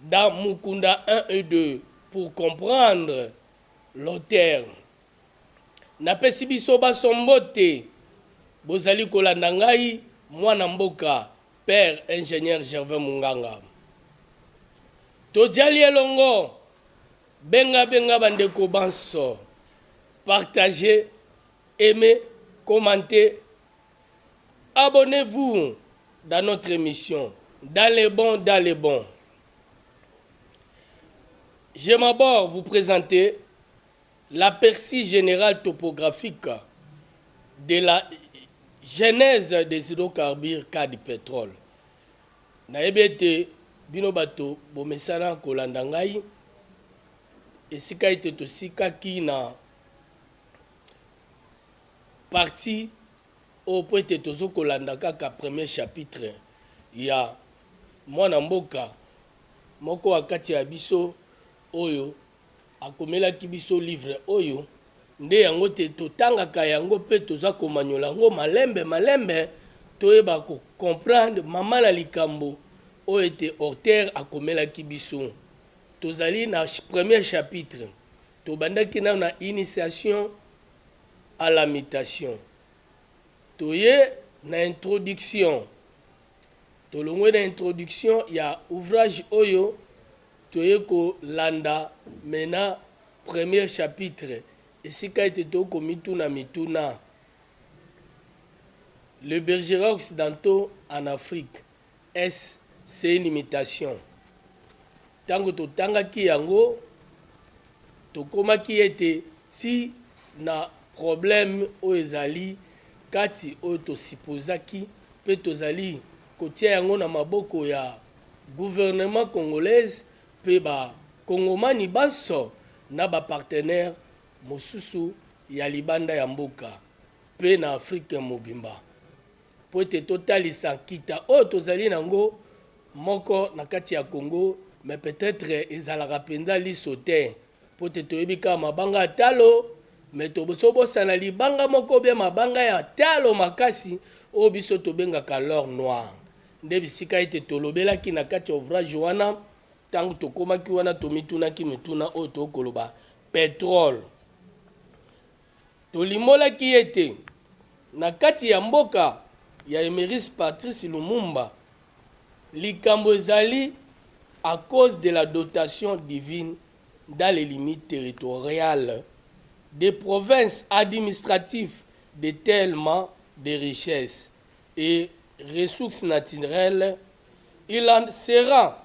dans Mukunda un et deux pour comprendre l'auteur. Napesi biso banso mbote, bozali kolanda ngai mwana mboka Père Ingenieur Gervais Munganga. Tojali elongo, benga benga bandeko banso, partagez, aimez, commentez, Abonnez vous dans notre emission dans les bons dans les bons je m'abord vous presenter l'aperçu général topographique de la genèse des hydrocarbures cas du pétrole nayebi ete bino bato bomesana kolanda ngai esika ete tosikaki na partie oyo po ete tozo kolanda kaka premier chapitre ya mwana mboka moko a kati ya biso oyo akomelaki biso livre oyo nde yango te totangaka yango pe toza komanyola yango malembe malembe toyeba ko comprendre mama na likambo oyo ete auteur akomelaki biso tozali na premier chapitre tobandaki nanu na initiation A la mutation toye na introduction tolongwe na introduction ya ouvrage oyo toye ko landa mais na première chapitre esika ete to ko mituna mituna le bergera occidentaux en Afrique Est-ce c'est une imitation? Tango totangaki yango, tokomaki ete ti na probleme oyo ezali kati oyo to supposaki mpe tozali kotia yango na maboko ya gouvernement congolaise mpe ba kongomani banso na ba partenaires mosusu ya libanda ya mboka mpe na Afrique mobimba. mpo ete totalisa nkita oyo tozali na yango moko na kati ya Congo, mais peut-etre ezalaka mpenza liso te, mpo ete toyebi kaka mabanga ya talo, mais toboso bosana libanga moko bia mabanga ya talo makasi oyo biso tobengaka l'or noir. Nde bisika ete tolobelaki na kati ya ouvrage wana, ntango tokomaki wana tomitunaki mituna oyo tookoloba petrole Tolimbolaki ete na kati ya mboka ya Emeris Patrice Lumumba, likambo ezali à cause de la dotation divine dans les limites territoriales des provinces administratives de tellement de richesses et ressources naturelles, il en sera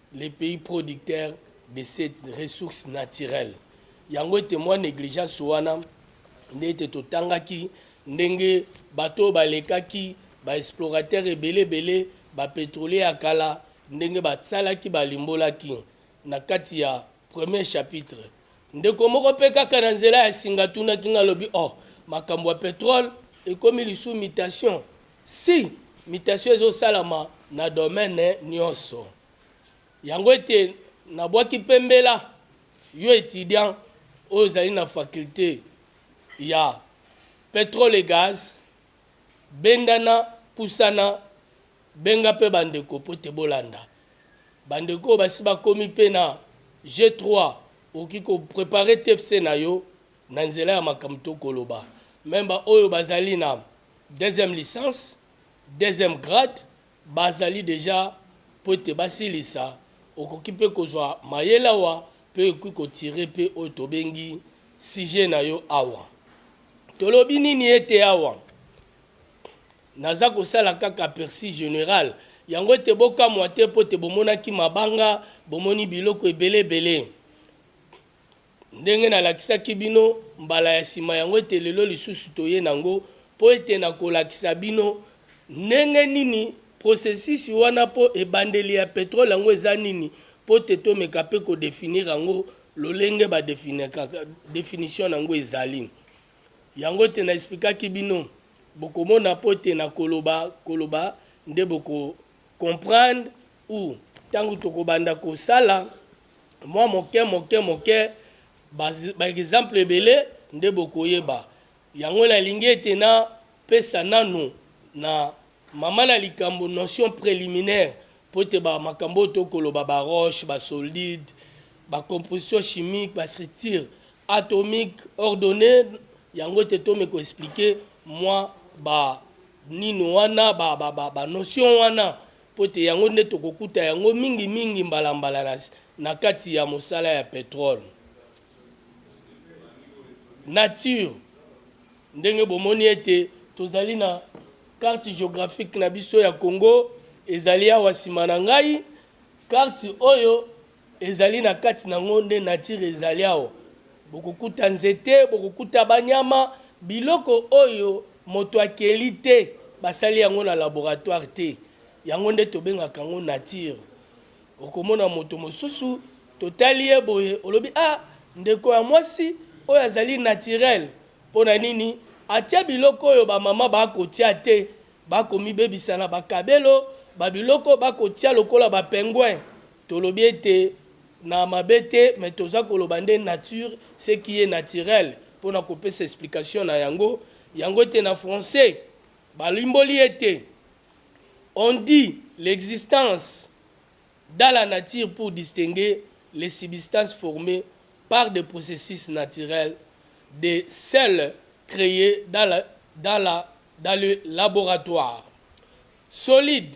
les pays producteur de cette ressource naturel yango ete mwa negligence wana nde ete totangaki ndenge bato oyo balekaki ba explorateur ebele ebele ba petrolier ya kala ndenge basalaki balimbolaki na kati ya premier chapitre ndeko moko mpe kaka na nzela ya singa atunaki nga alobi oh makambo ya petrole ekomi lisusu mutation Si mutation ezo salama na domaine nionso yango ete na bwaki pe mbela yo etudiant oyo ozali na faculte ya petrole et gaz bendana pusana benga pe ba ndeko po te bolanda ba ndeko oyo basi bakomi pe na G3 okoki ko preparer TFC na yo na nzela ya makambo toko loba meme ba oyo bazali na deuxième licence, deuxième grade bazali dejà mpo ete basilisa, okoki mpe kozwa mayele awa mpe okoki ko tirer mpe oyo tobengi sujet na yo awa. Tolobi nini ete awa naza kosala kaka aperçu general, yango ete bokamwa te mpo ete bomonaki mabanga, bomoni biloko ebele ebele. Ndenge nalakisaki bino mbala ya sima, yango ete lelo lisusu toye nango, po ete nakolakisa bino ndenge nini processus wana, po ebandeli ya petrole yango eza nini, po te tomeka pe ko definir yango lolenge ba definekaka, definition nango ezali yango te na explikaki bino, bokomona po ete nakoloba koloba nde boko comprendre. U Ntango tokobanda kosala mwa moke moke moke, baekzample ebele nde bokoyeba. Yango nalingi ete napesa nanu na mama na likambo notion preliminaire mpo ete ba makambo oyo tokoloba, ba roches, ba soldides, ba compositions chimiques, ba structures atomiques ordonnees, yango ete tome ko expliquer mwa ba nini wana, ba notions wana mpo ete yango nde tokokuta yango mingimingi mbala mbala na, na kati ya mosala ya petrole. Nature, ndenge bomoni ete tozali na carte geographique na biso ya Congo ezali awa nsima na ngai, carte oyo Ezali na kati na yango nde nature ezali awa bokokuta nzete, bokokuta banyama, biloko oyo moto akeli te, basali yango na laboratoire te, yango nde tobengaka yango nature. Okomona moto mosusu totali ye boye olobi ah ndeko ya mwasi oyo azali naturel, mpo na nini atia biloko oyo ba mama bakotia te, bakomibebisa na ba kabelo, ba biloko bakotia lokola ba penguin Tolobi ete na mabe te mais toza koloba nde nature ce qui est naturel pona kopesa explication na yango. Yango ete na français balimboli ete on dit l'existence dans la nature pour distinguer les substances formees par des processus naturels de celles creees dans la dans la dans le laboratoire. Solide.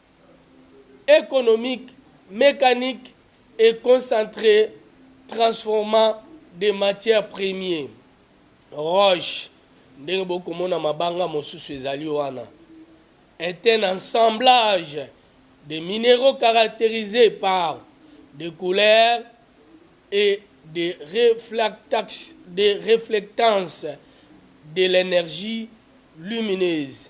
economique, mecanique et concentre transformant des matières premiers, roches, ndenge bokoki komona mabanga mosusu ezali wana, est un assemblage de mineraux caracterisés par des couleurs et des reflectances de l'energie lumineuse.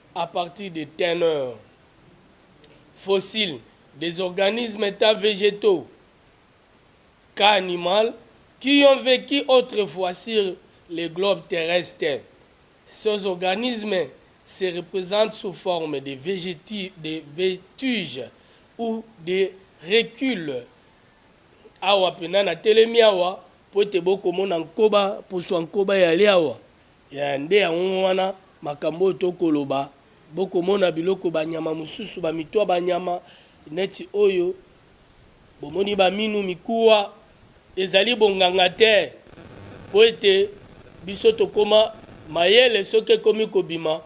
à partir de teneur fossile des organismes etant vegetaux cas animal qui ont vecu autrefois sur le globe terrestre. Ces organismes se représentent sous forme de, végéti, de vétuge ou de recule. Awa pena na telemi awa po ete bokomona nkoba poswa nkoba yali awa Ee, nde yango wana, makambo oyo tokoloba. Bokomona biloko, banyama mosusu, bamito, banyama neti oyo, bomoni, baminu, mikuwa. Ezali bonganga te, mpo ete biso tokoma mayele soki ekomi kobima.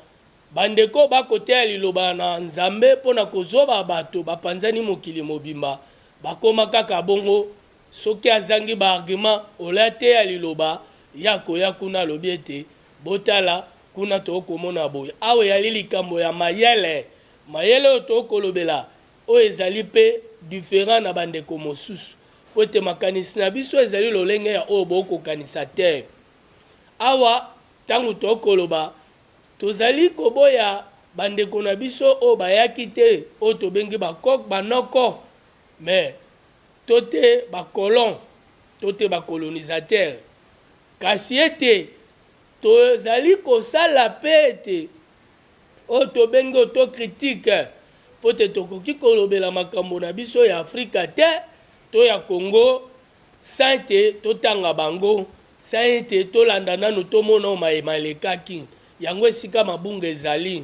Bandeko oyo bakoteya Liloba na Nzambe mpo na kozoba bato bapanzani mokili mobimba, bakoma kaka bongo Soki azangi ba arguments, olya te ya liloba, ye akoya kuna alobi ete, Botala, kuna tokoki komona boye. Awa eyali likambo ya mayele, mayele oyo tokoki kolobela, oyo ezali mpe different na bandeko mosusu, mpo ete makanisi na biso ezali lolenge ya oyo bokoki kokanisa te. Awa, ntango tokoki koloba, Tozali koboya bandeko na biso oyo bayaki te, oyo tobengi ba-coq, ba-noko, mais to te ba colons to te ba colonisateurs, kasi ete tozali kosala mpe ete oyo tobengi autocritique mpo ete tokoki kolobela makambo na biso ya Afrika te to ya Congo sans ete totanga bango, sans ete tolanda nanu tomona oyo maye malekaki. Yango esika mabunga ezali.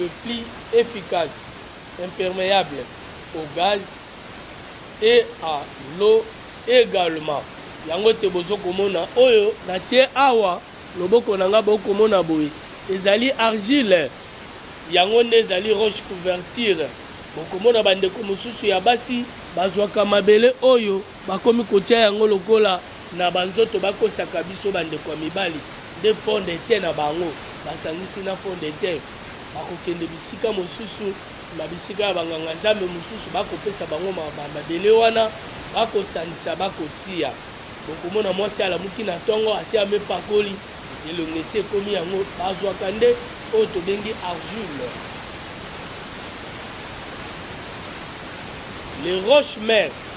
le plus efficace impermeable au gaz et à l'eau egalement yango te bozo komona oyo na tie awa loboko na nga boko mona boye ezali argile yango nde ezali roche couverture bokomona bandeko mosusu ya basi bazwaka mabele oyo Bakomi kotia yango lokola na ba nzoto bakosaka biso ba ndeko ya mibali nde fond de teint na bango basangisi na fond de teint bakokende bisika mosusu na bisika ya ba nganga nzambe mosusu bakopesa bango ba mabele wana bakosangisa bakotia bokomona mwasi alamuki na tongo asi amipakoli elongi esi ekomi yango bazwaka nde oyo tobengi argile les roches mères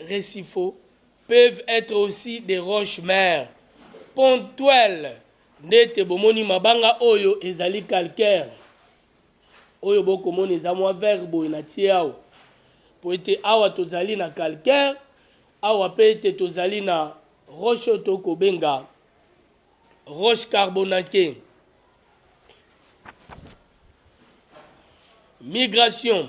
recifaux, peuvent etre aussi des roches mères pontuelles ndete bomoni mabanga oyo ezali calcaire oyo bokomona eza mwa vert boye na tie awa mpo ete awa tozali na calcaire awa mpe ete tozali na roche oyo tokobenga roche carbonate migration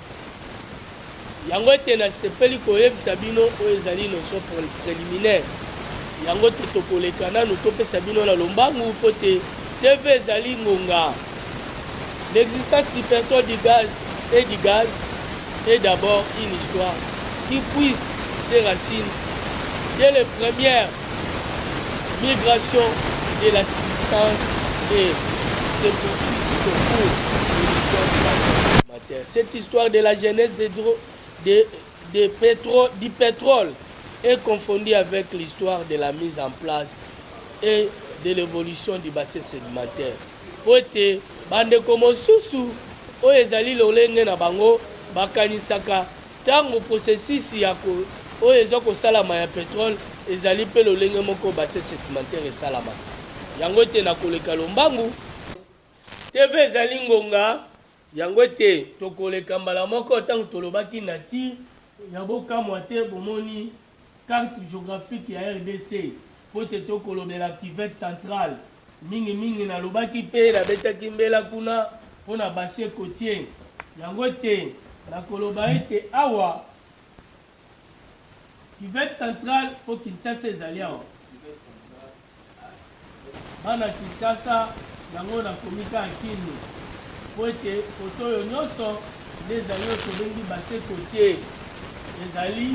Yango ete nasepeli koyebisa bino oyo ezali notion preliminaire, yango te tokoleka nanu topesa bino na lombangu mpo te TV ezali ngonga. L'existence du petrole, du gaz et du gaz est d'abord une histoire qui puise ses racines dès les premières migrations de la substance et se poursuit tout au cours de l'histoire de la société. Cette histoire de la genese de dro, de, de petro, du petrole est confondue avec l'histoire de la mise en place et de l'evolution du bassin sedimentaire mpo ete bandeko mosusu oyo ezali lolenge na bango bakanisaka ntango processus ya ko, oyo eza kosalama ya petrole ezali mpe lolenge moko bassin sedimentaire esalamaka yango ete na koleka lombangu TV ezali ngonga Yango ete tokoleka mbala moko ntango tolobaki na ti ya bokamwa te, bomoni, carte geographique ya rdc, mpo ete tokolobela cuvette centrale mingi mingi. Nalobaki, mpe nabetaki mbela kuna mpo na bassin cotier, yango ete nakoloba ete awa, cuvette centrale, mpo Kinshasa ezali awa. Bana kisasa yango na komi kaka kin po ete photo oyo nioso nde ezali oyo tobengi base cotier ezali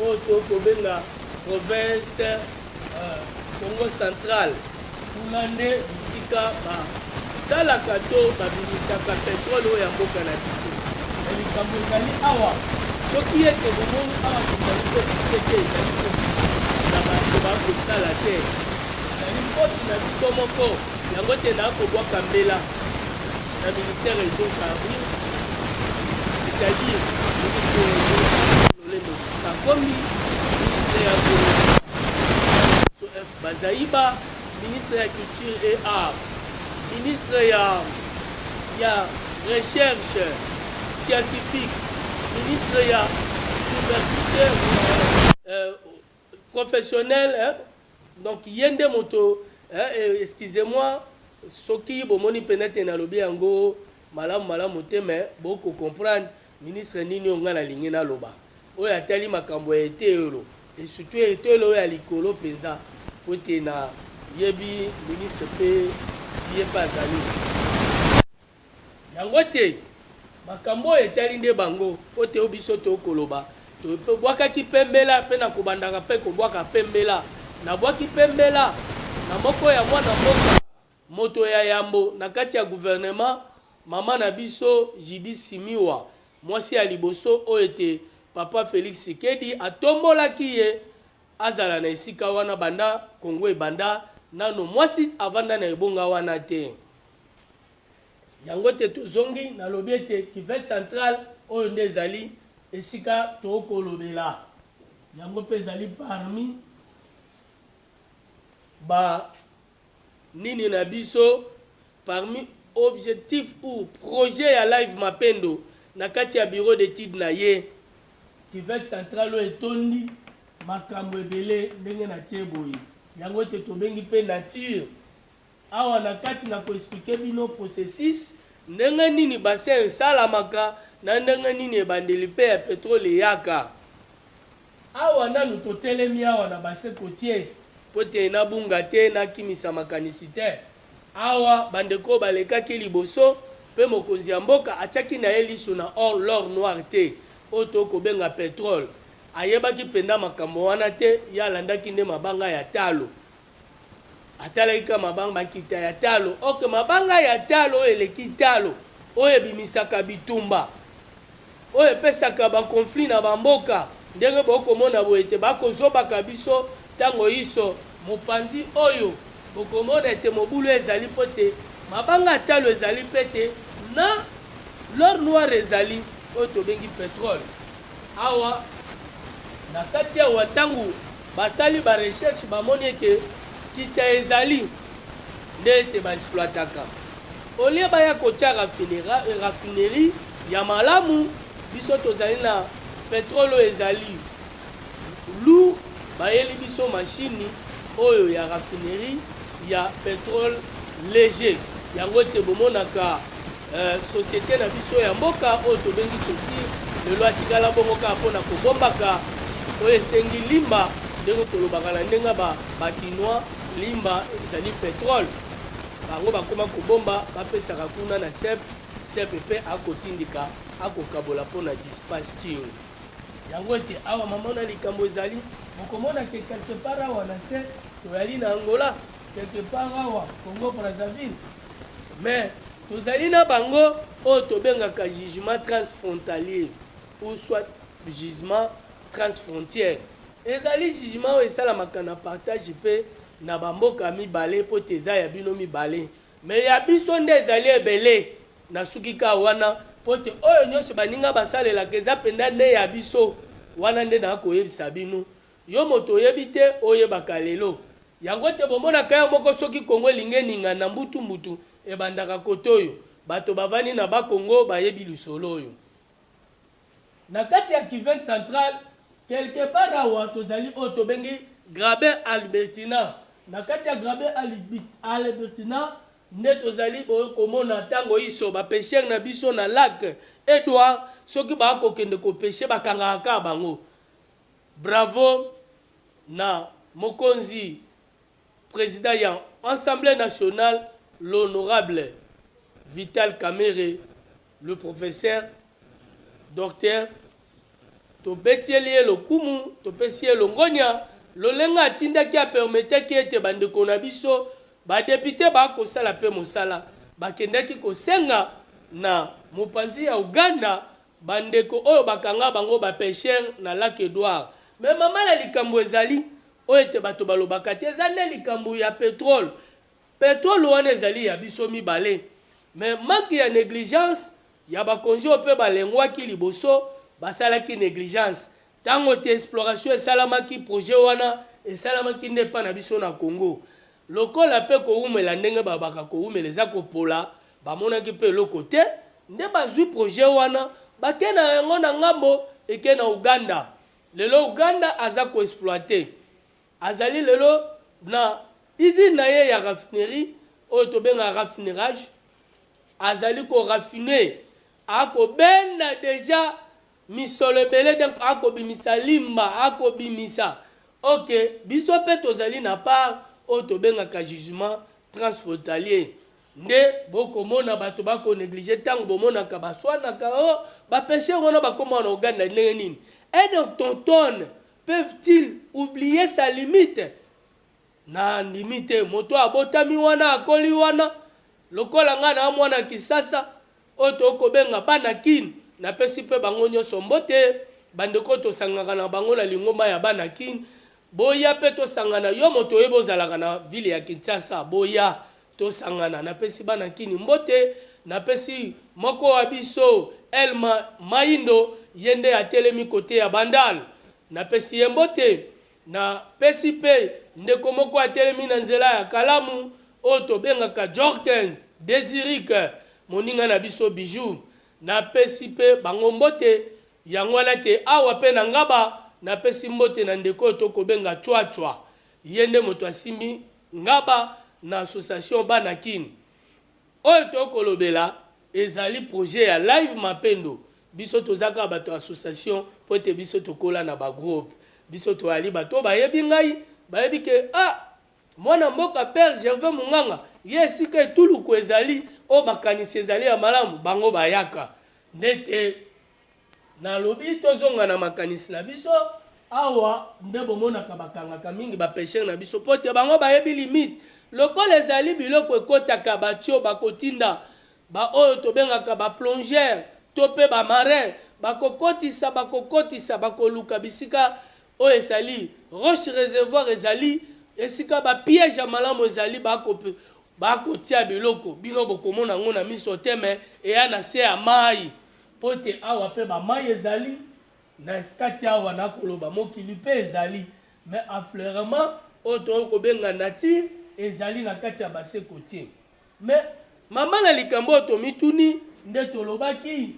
oyo to kobenga province Kongo central kuna nde bisika ba Salaka to babimisaka petrole oyo ya mboka na biso. Mais likambo ezali awa soki ete bomoni awa tozali pe cite te ezali kobima na bato ba kosala te ezali faute na biso moko yango te na kobwaka mbela na ministère ya hydrocarbures c'est à dire ministre ya hydrocarbures lolendo sakomi ministre ya Bazali ba Ministre ya Culture et Arts, Ministre ya ya Recherche scientifique, Ministre ya Universite professionnelle eh, donc ye nde moto eh, excusez moi soki bomoni peut-etre nalobi yango malamu malamu te mais boko comprendre Ministre nini oyo ngai nalingi naloba, oyo atali makambo ya eteyelo et surtout eteyelo oyo ya likolo penza mpo ete na yebi ministre mpe ye mpe azali yango te. Makambo oyo etali nde bango mpo ete oyo biso toyei koloba tobwakaki mpe mbela mpe na kobandaka mpe kobwaka mpe mbela. Nabwaki mpe mbela na moko ya mwana mboka. Moto ya yambo na kati ya guvernema, mama na biso Judith Simiwa, mwasi ya liboso oyo ete Papa Felix Tshisekedi atombolaki ye azala na esika wana banda Congo ebanda, nano mwasi avanda na ebonga wana te. Yango ete tozongi, nalobi ete Kivu central, oyo nde ezali esika tokolobela, yango mpe ezali parmi ba Nini na biso parmi objectif ou projet ya live mapendo na kati ya bureau d'etude na ye. Cuvette central oyo etondi makambu ebele ndenge na tie boye yango ete tobengi pe nature awa na kati na ko explique bino processus ndenge nini bassin esalamaka na ndenge nini ebandeli pe ya petrole eyaka Awa nanu totelemi awa na bassin cotier po te nabunga te, nakimisa makanisi te. Awa bandeko oyo balekaki liboso pe mokonzi ya mboka atiaki na ye liso na or, l'or noir, te, oyo tokoki kobenga petrole. Ayebaki penza makambo wana te, ye alandaki nde mabanga ya talo. Atalaki kaka mabanga, makita ya talo. Ok, mabanga ya talo oyo eleki talo, oyo ebimisaka bitumba, oyo epesaka ba conflits na ba mboka, ndenge bo komona boye ete ba kozobaka biso tango inso. Mopanzi oyo, bokomona ete mobulu ezali mpo ete mabanga ya talo ezali mpe ete na l'or noir ezali, oyo tobengi petrole. Awa na kati awa ntango basali ba recherche bamoni ete nkita ezali nde ete ba exploitaka au lieu baya kotia raffinerie ya malamu biso tozali na petrole oyo ezali lourd bayeli biso mashini oyo ya raffinerie ya petrole leger yango ete bomonaka Societe na biso ya mboka oyo tobengi sosi lelo atikala bongo kaka mpo na kobombaka oyo esengi limba ndenge kolobaka na ndenge ya ba kinois limba ezali petrole bango bakoma kobomba bapesaka kuna na sep sep mpe akotindika akokabola mpo na dispatching. Yango ete awa mamona likambo ezali bokomona ke quelque part awa na se toyali na angola quelque part awa congo Brazzaville Mais tozali na bango oyo tobengaka jugement transfrontalier ou soit jugement transfrontière. Ezali jugement oyo esalamaka na partage mpe na ba mboka mibale mpo te eza ya bino mibale. Mais ya biso nde ezali ebele. Nasuki kaka wana mpo te oyo nionso baninga basalelaka eza mpenza nde ya biso. Wana nde nakoyebisa bino. Yo moto oyebi te oyebaka lelo yango te bomonaka yo moko soki congo elingi eningana mbutu mbutu ebandaka kote oyo bato bavandi na bas congo bayebi lisolo oyo. Na kati ya cuvette centrale quelque part awa tozali oyo tobengi graben albertina na kati ya graben albertina nde tozali boye komona tango inso ba pecheurs na biso na lac edouard soki baa kokende ko pecher bakangaka kaka bango Bravo na mokonzi president ya Assemblee nationale l'honorable Vital Kamerhe le professeur Docteur tobetieli ye lokumu topesi ye longonya lolenga atindaki a permetaki ete ba ndeko na biso ba deputes ba kosala pe mosala bakendaki kosenga na mopanzi ya Ouganda Ba ndeko oyo bakanga bango ba pecheur na lac Edouard. Mais maman na likambu ezali oyo ete bato balobaka te eza nde likambu ya petrole. Petrole wana ezali ya biso mibale mais manque ya negligence ya bakonzi oyo pe balengwaki liboso basalaki negligence Tango te exploration esalamaki, projet wana esalamaki nde epa na biso na Congo. Lokola pe kowumela ndenge balobaka kowumela eza kopola, bamonaki pe eloko te, nde bazui projet wana bake na yango na ngambo eke na Ouganda. Lelo Ouganda aza ko exploiter. Azali lelo na usine na ye ya raffinerie oyo tobengaka raffinerage, azali ko raffiner, akobenda dejà. Misolo ebele donc ako bimisa limba ako bimisa ok biso pe tozali na part oyo tobengaka jugement transfrontalier nde bo komona bato ba ko negliger tango bomonaka ba swanaka oh ba pecheurs wana ba koma na Ouganda ndenge nini et donc ton tonne peuvent-ils oublier sa limite Na ndimi te moto abotami wana akoli wana lokola nga na mwana kisasa oyo to kobenga bana kin na pesi pe bango nioso mbote ba ndeko to sangaka na bango na lingomba ya bana kin boya pe to sangana yo moto oyebi ozalaka na ville ya kinshasa boya to sangana na pesi bana kin mbote na pesi moko wa biso elma mayindo ye nde atelemi cote ya bandal na pesi ye mbote Na pesi pe ndeko moko atelemi na nzela ya kalamu oyo tobengaka Jorkens de Zurich, moninga na biso Bijoux. Na pesi pe bango mbote, yango wana te awa pe na Ngaba na pesi mbote na ndeko oyo to kobenga Cua Cua. Ye nde moto asimbi Ngaba na association Bana Kin. Oyo to kolobela ezali projet ya live mapendo biso toza kaka bato ya association po ete biso tokola na ba groupe biso toali bato oyo bayebi ngai bayebi ke ah mwana mboka père gervais munganga ye esika etuluku ezali oyo makanisi ezali ya malamu bango bayaka nde te Nalobi tozonga na makanisi na biso. Awa nde bomonaka bakangaka mingi ba pecheurs na biso mpo te bango bayebi limite. Lokola ezali biloko ekotaka batio bakotinda ba oyo tobengaka ba plongeurs to mpe ba marins bakokotisa bakokotisa bakoluka bisika oyo ezali roche reservoir ezali esika ba piège ya malamu ezali bako bakotia biloko bino bokomona yango na miso te mais eya na se ya mayi Mpo ete awa mpe bamai ezali, na eskati awa, nakoloba, mokili mpe ezali, mais affleurement oyo tokoki kobenga nature ezali na kati ya bassin cotier. Mais, mama na likambo oyo tomituni, nde tolobaki,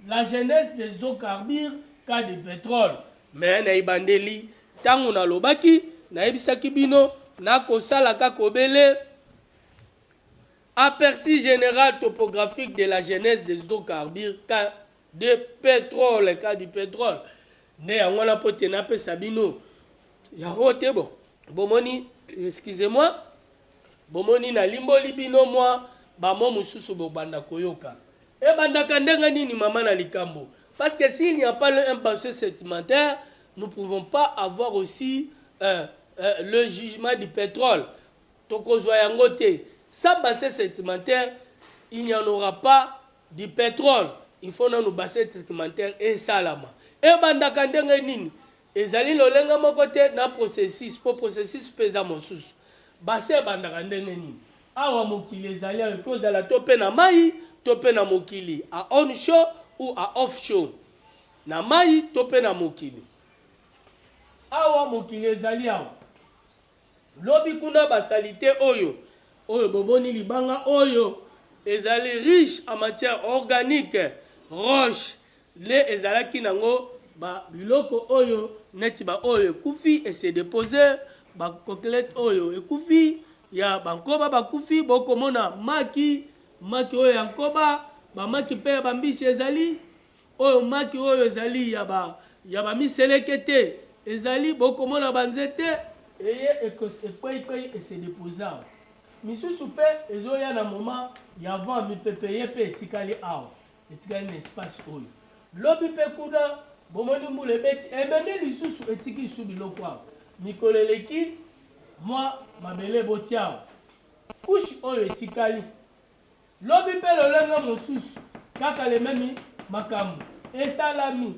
la genese des hydrocarbures, cas du petrole. Mais, na ebandeli, tango nalobaki, nayebisaki bino, nakosalaka kobele. Aperçu general topographique de la genèse des hydrocarbures ka de petrole ka du petrole nde yango wana mpo te napesa bino yango te bo bomoni excusez moi bomoni nalimboli bino mwa bamo mosusu bobanda koyoka ebandaka ndenge nini mama na likambo parce que s'il n'y a pas le, un pensée sédimentaire nous pouvons pas avoir aussi euh, euh, le jugement du pétrole Tokozwa yango te sans bassesse sedimentaire il n'y en aura pas du petrole il faut nanu bassesse sedimentaire esalama ebandaka ndenge nini ezali lolenge moko te na processus po processus pe eza mosusu bassesse ebandaka ndenge nini awa mokili ezali awa ekoki kozala to pe na mayi to pe na mokili a on shore ou a off shore na mayi to pe na mokili awa mokili ezali awa. Lobi kuna ba salite oyo. Oyo bomoni libanga oyo ezali riche en matière organique, roche nde ezalaki nango ba biloko oyo neti ba oyo ekufi e se deposer, ba coquelette oyo ekufi ya ba nkoba bakufi bokomona maki, maki oyo ya nkoba, ba maki pe ya ba mbisi ezali. Oyo maki oyo ezali ya ba ya ba miseleke te ezali bokomona ba nzete eye ekwei kwei ese deposa awa misusu pe ezoya na moma ya vent mipepe ye pe etikali awa etikali na espace oyo lobi pe kuna bomoni mbula ebeti ememi lisusu etiki isu biloko awa mikolo eleki mwa mabele botiawa kushi oyo etikali Lobi pe lolenge mosusu kaka le meme makambu esalami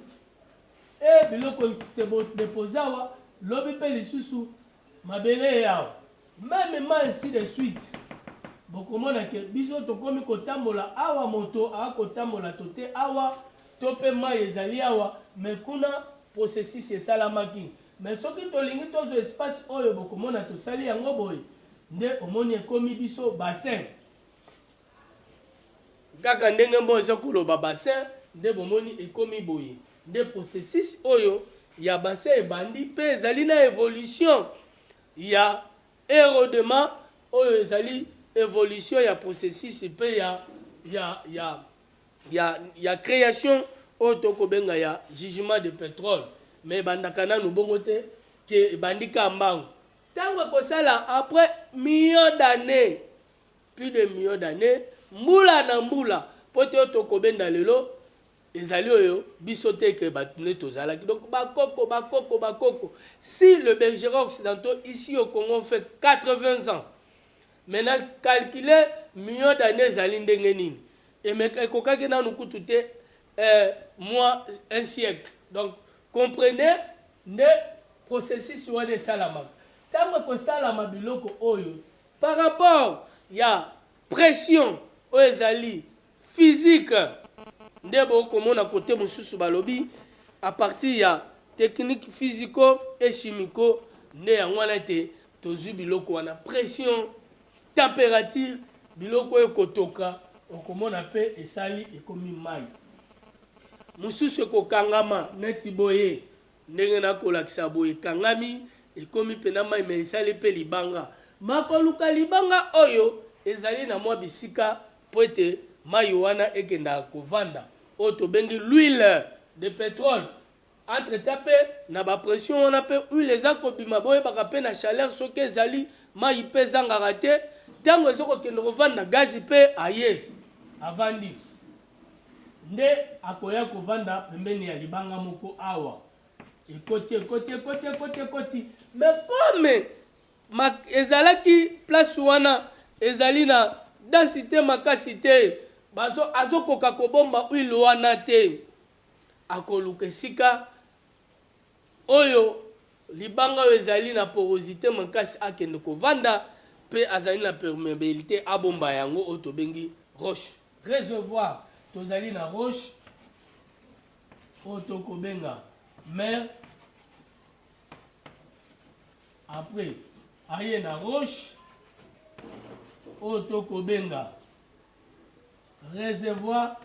et biloko se bo deposer awa lobi pe lisusu mabele eye awa meme ma ainsi de suite bokomona ke biso tokomi kotambola awa moto a kotambola tote awa to pe mayi ezali awa mais kuna processus esalamaki mais soki tolingi tozwa espace oyo bokomona tosali yango boye Nde omoni ekomi biso bassin. Kaka ndenge mboa eza koloba bassin nde bomoni ekomi boye. Nde processus oyo ya bassin ebandi pe ezali na evolution ya erodement oyo ezali evolution ya processus pe ya ya ya ya ya creation oyo tokobenga ya jugement de petrole mais ebandaka nanu bongo te que ebandi ka mbangu Tango ekosala après millions d'annees, plus de millions d'annees, mbula na mbula, po te oyo tokobenda lelo ezali oyo biso te ke bato nde tozalaki donc bakoko bakoko bakoko si le bergera occidentaux ici au congo on fait 80 ans maintenant calcule million d'année ezali ndenge nini emeka ekokaki nanu kutu te euh, moi un siècle donc comprenez nde processus wana esalamaka ntango ekosalama biloko oyo par rapport ya pression oyo ezali physique nde bokomona kote mosusu balobi à partir ya technique physico et chimico nde yango wana ete tozwi biloko wana pression Temperature biloko oyo ekotoka okomona pe esali ekomi mayi mususu ekokangama neti boye ndenge nakolakisa boye ekangami ekomi pena mayi me esali pe libanga makoluka libanga oyo ezali na mwa bisika po ete mayi wana ekendaka kovanda oyo tobengi l'huile de petrole Entre temps pe na ba pression wana pe huile eza kobima boyebaka pe na chaleur soki ezali mayi pe ezangaka te tango ezo kokende kovanda gaz pe aye avandi nde akoya kovanda pembeni ya libanga moko awa ekoti ekoti ekoti ekoti ekoti mais comme ma ezalaki place wana ezali na densite makasi te bazo azo koka kobomba huile wana te Akoluka esika oyo libanga oyo ezali na porosite makasi akende kovanda mpe azali na permeabilite abomba yango oyo tobengi roche. Reservoir, Tozali na roche oyo tokobenga mer apres aye na roche oyo tokobenga. Recevoir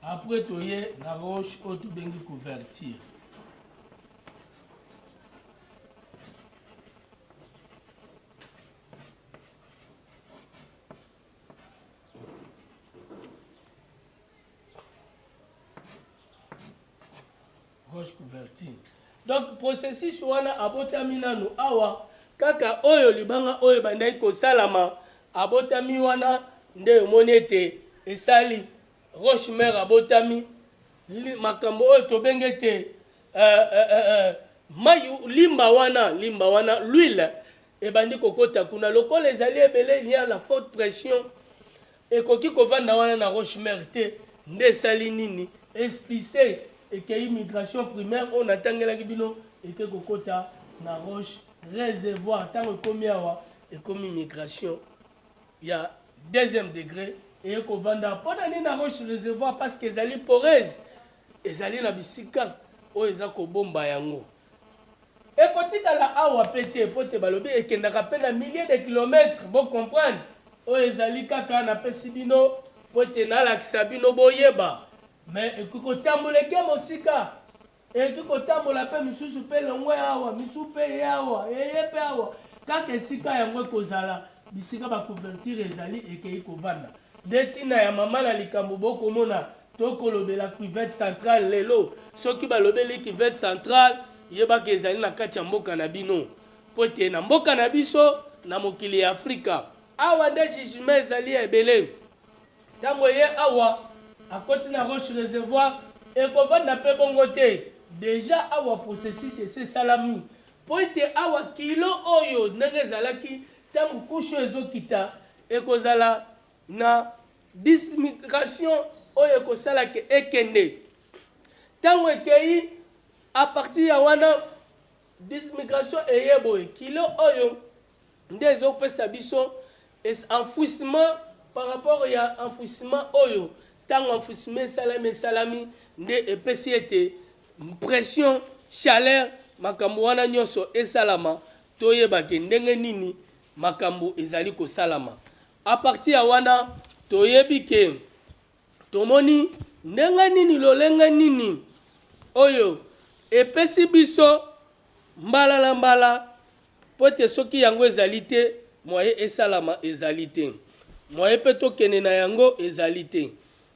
Après toye na roche oyo tobengi couverture. roche couvertine donc processus wana abotami nanu awa kaka oyo libanga oyo ebandaki kosalama abotami wana nde omoni ete esali roche mare abotami makambo oyo tobengi ete uh, uh, uh, uh, mayu limba wana limba wana l'huile ebandi kokota kuna lokola ezali ebele lia la forte pression Ekoki kovanda wana na roche mère te nde esali nini? Esplice ekeyi migration primaire oyo natangelaki bino eke kokota na roche resevoir tango ekomi awa ekomi migration ya deuxième degre eye kovanda awa pona nini na roche resevoir pasque ezali poreuse ezali na bisika oyo eza kobomba yango. Ekotikala awa pe te po te balobi ekendaka pe na milliers de kilomètres, bo comprendre. Oyo ezali kaka napesi bino po te nalakisa bino boyeba. Mais ekoki kotambola eke mosika, ekoki kotambola pe misusu pe elongwe awa, misusu pe eye awa, eye pe awa. Kaka esika yango ekozala, bisika ba couverture ezali ekeyi kovanda. Nde tina ya mama na likambo bokomona Tokolobela cuvette centrale lelo. Soki balobeli cuvette centrale, yebaka ezali na kati ya mboka na bino. Mpo ete na mboka na biso, na mokili ya Afrika, awa nde jugement ezali ya ebele. Tango eye awa, akoti na roche reservoir, ekovanda mpe bongo te. Dejà awa processus esi esalami. Mpo ete awa kilo oyo ndenge ezalaki tango couche oyo ezokita, ekozala na Dismigration oyo ekosala ke ekende. Tango ekeyi a partir ya wana dismigration eye boye kilo oyo nde ezopesa biso enfouissement par rapport ya enfouissement oyo ntango enfouissement esalami esalami nde epesi ete pression chaleur makambo wana nyonso esalama toyebake ndenge nini makambo ezali kosalama A partir ya wana, toyebi que tomoni ndenge nini, lolenge nini oyo epesi biso mbala na mbala mpo ete soki yango ezali te mwaye esalama ezali te, mwaye mpe tokende na yango ezali te.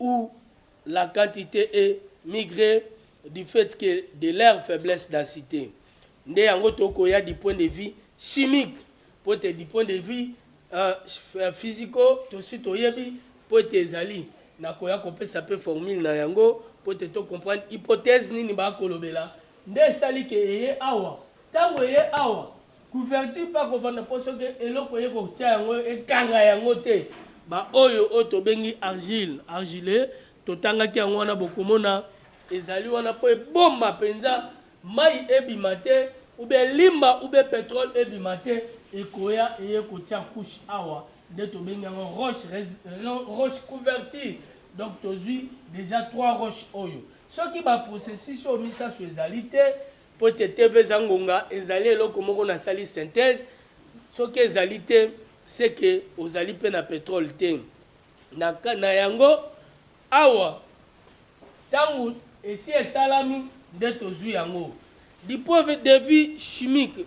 ou la quantite et migre du fait que de leur faiblesse densite nde yango tokoya du point de vue chimique mpo ete du point de vue uh, physico tosi toyebi mpo ete ezali nakoya kopesa mpe formule na yango mpo ete to comprendre hypothèse nini bakolobela nde esali ke eye awa ntango eye awa Couverture pe akovanda po soki eloko eye kotia yango ekanga yango te. Ba oyo oyo tobengi argile, argileux, totangaki yango wana bokomona ezali wana po ebomba penza mayi ebima te ou bien elimba ou bien petrole ebima te ekoya eye kotia couche awa nde tobengi yango roche res, roche couverture donc tozui dejà trois roches oyo soki ba processus oyo misasu ezali te Mpo ete TV eza ngonga, ezali eloko moko na sali synthèse, soki ezali te, ce que ozali mpe na petrole te. Na, na yango, awa, ntango esi esalami, nde tozui yango. Du point de vue chimique,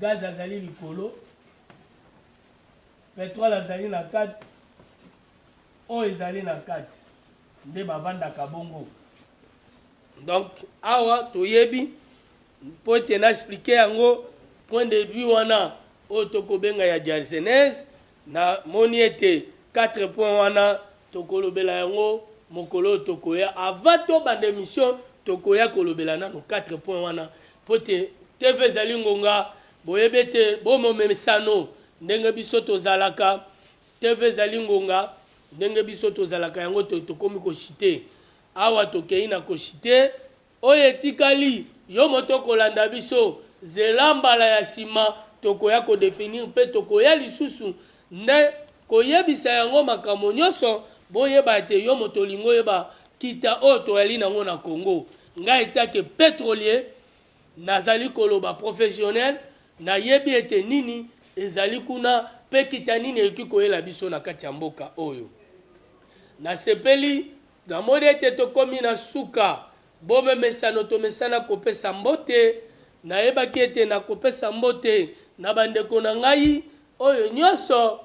Gaz azali likolo, petrole azali na kati, oyo ezali na kati nde bavandaka bongo. Donc awa toyebi mpo ete na explike yango point de vue wana oyo tokobenga ya jarsenese Na moni ete quatre points wana toko lobela yango mokolo oyo toko ya avant to banda emission toko ya ko lobela nanu quatre points wana po ete TV ezali ngonga bo yebi ete bo momesano ndenge biso to zalaka TV ezali ngonga ndenge biso to zalaka yango to komi ko chute awa to keyi na ko chute Oyo etikali yo moto okolanda biso, zela mbala ya sima tokoya ko definir mpe tokoya lisusu nde koyebisa yango makambo nyoso boyeba ete yo moto olingi oyeba kita oyo toyali nango na Congo. Ngai etake petrolier nazali koloba professionnel nayebi ete nini ezali kuna mpe kita nini ekoki koyela biso na kati ya mboka oyo. Nasepeli. Namoni ete tokomi na suka. Bomemesano tomesana kopesa mbote. Nayebaki ete nakopesa mbote na bandeko na ngai oyo nyonso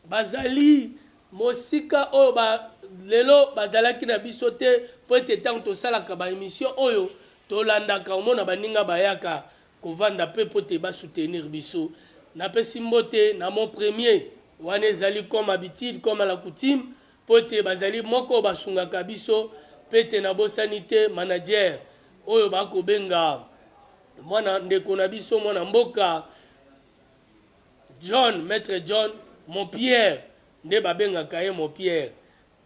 bazali mosika, oyo ba, lelo bazalaki na biso te, mpo ete ntango tosalaka ba emissions oyo, tolandaka, omona, baninga bayaka kovanda mpe mpo ete ba soutenir biso. Napesi mbote na mon premier, wana ezali comme habitude, comme à la coutume, Mpo te bazali moko basungaka biso mpe te nabosani te manager oyo ba kobenga mwana ndeko na biso mwana mboka John maitre John mon Pierre nde babengaka ye mon Pierre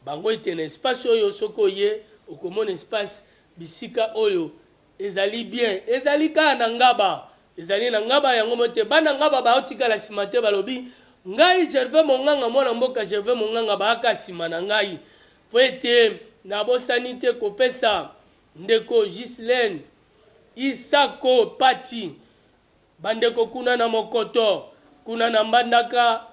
bango ete na espace oyo soki oye okomona espace bisika oyo Ezali bien ezali kaka na ngaba. Ezali na ngaba yango moko te bana ngaba bao tikala sima te balobi ngai gervais monganga mwana mboka gervais monganga baaka sima na ngai po ete na bosani te kopesa ndeko gislene isako pati bandeko kuna na mokoto kuna na mbandaka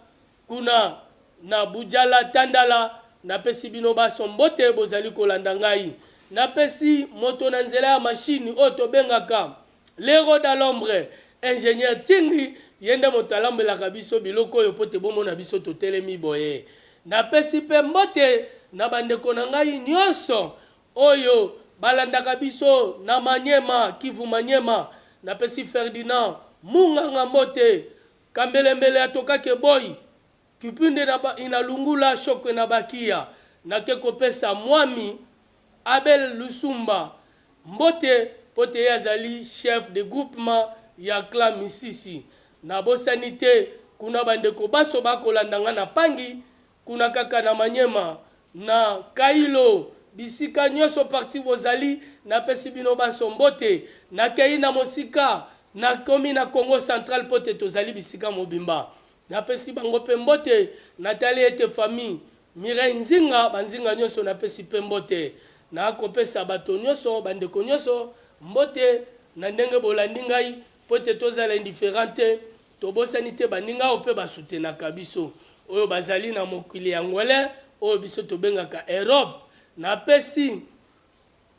Kuna na Bujala Tandala, napesi bino banso mbote bozali kolanda ngai. Napesi moto na nzela ya machine oyo tobengaka L'Hero dans l'ombre, Ingenieur Tsingi, ye nde moto alambelaka biso biloko oyo mpo te bomona biso totelemi boye. Napesi mpe mbote na bandeko na ngai nyonso oyo balandaka biso na Maniema, Kivu-Maniema. Napesi Ferdinand Munganga mbote Kambelembele atoka ke boyi kipinde na ba ina lungula shokwe na ba kiya na ke ko pesa mwami Abel Lusumba mbote po te ye azali chef de groupement ya clan Misisi. Na bosani te kuna ba ndeko banso ba kolanda nga na pangi Kuna kaka na Maniema, na Kailo, bisika nionso partout bozali, napesi bino banso mbote. Nakeyi na mosika, nakomi na Kongo central mpo te tozali bisika mobimba. Napesi bango mpe mbote. Natali ete famille Mireille Nzinga, ba Nzinga nionso napesi mpe mbote. Nakopesa bato nionso, bandeko nionso mbote na ndenge bolandi ngai. Po te tozala indifferent te, tobosani te baninga oyo pe ba soutenaka biso, oyo bazali na mokili ya ngwele oyo biso tobengaka Europe. Napesi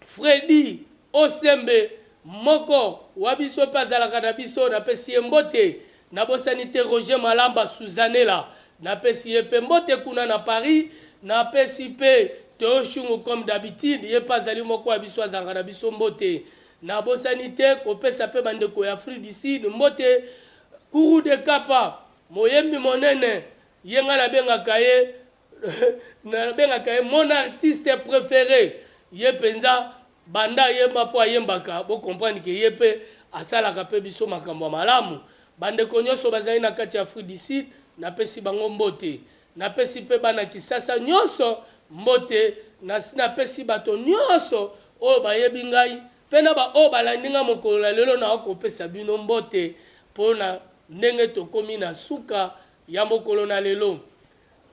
Freddy Osembe, moko wa biso pe azalaka na biso, napesi ye mbote. Nabosani te Roger Malamba Suzanela, napesi ye pe mbote kuna na Paris. Napesi pe Theo Shungu comme d'habitude, ye pe azali moko ya biso, azalaka na biso, mbote. Nabosani te kopesa mpe bandeko ya Afrique du Sud mbote. Kourou de Kapa, moyembi monene, ye ngai nabengaka ye nabengaka ye mon artiste prefere, ye mpenza banda ayemba mpo ayembaka, bo comprendre que ye mpe asalaka mpe biso makambo ya malamu. Bandeko nyonso bazali na kati ya Afrique du Sud, napesi bango mbote. Napesi mpe bana Kisasa nyonso mbote. Nasi napesi bato nyonso oyo bayebi ngai mpe na baoyo balandi ngai mokolo na lelo. Nakoki kopesa bino mbote mpo na ndenge tokomi na suka ya mokolo na lelo.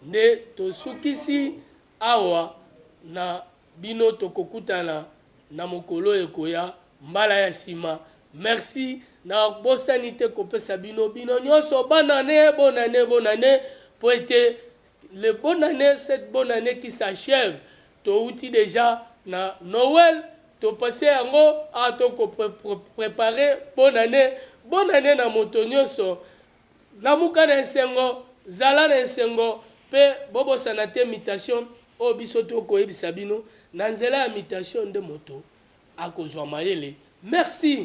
Nde tosukisi Awa na bino tokokutana na mokolo ekoya mbala ya sima merci na bosani te kopesa bino bino nyoso bonne annee bonne annee bonne annee po ete le bonne annee cette bonne annee qui s'achève touti deja na Noël topase yango a toko prepare bonne annee bonne annee na moto nyoso Lamuka na esengo, zala na esengo, mpe bobosana te mutation oyo biso to koyebisa bino, na nzela ya mutation nde moto akozua mayele. Merci.